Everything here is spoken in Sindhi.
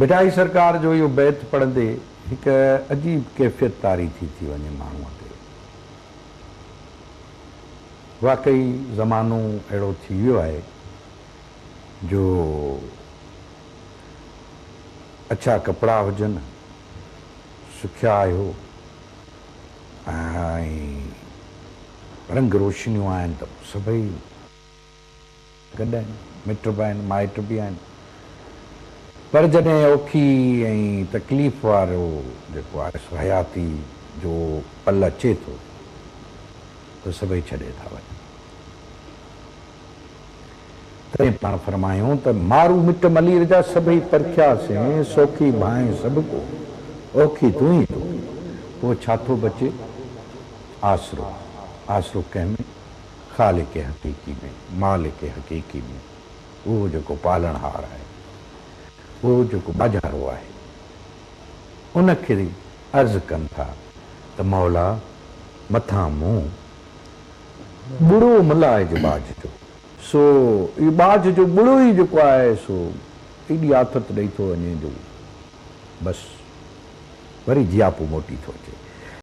ڀٽائي سرڪار جو اهو بيت پڙهندي هڪ عجيب ڪيفيت طاري ٿي ٿي وڃي ماڻهوء تي. واقعي زمانو اهڙو ٿي ويو آهي جو اڇا ڪپڙا هجن، سکيا آهيو ۽ رنگ روشنيون آهن ته پوء سڀئي. گڏ آهن، مٽ به آهن، مائٽ به آهن پر جڏهن اوکي ۽ تڪليف وارو جيڪو آهي سو حياتي جو پل اچي ٿو ته سڀئي ڇڏي ٿا وڃن. تڏهن پاڻ فرمايائون ته مارو مٽ ملير جا سڀئي پرکيا سين، سوکي ڀانء سڀ ڪو، اوکي تون ئي توکي، پوء ڇا ٿو بچي؟ آسرو، آسرو ڪنهن ۾؟ خالق حقيقي ۾، مالڪ حقيقي ۾، اهو جيڪو پالڻهار آهي، اهو جيڪو ٻاجهارو آهي، ان کي عرض ڪن ٿا ته مولا! مٿان مون ٻڙو مل آهي جو ٻاجهه جو، سو اهو ٻاجهه جو ٻڙو ئي جيڪو آهي سو ايڏي آٿت ڏئي ٿو وڃي جو بس وري جياپو موٽي ٿو اچي.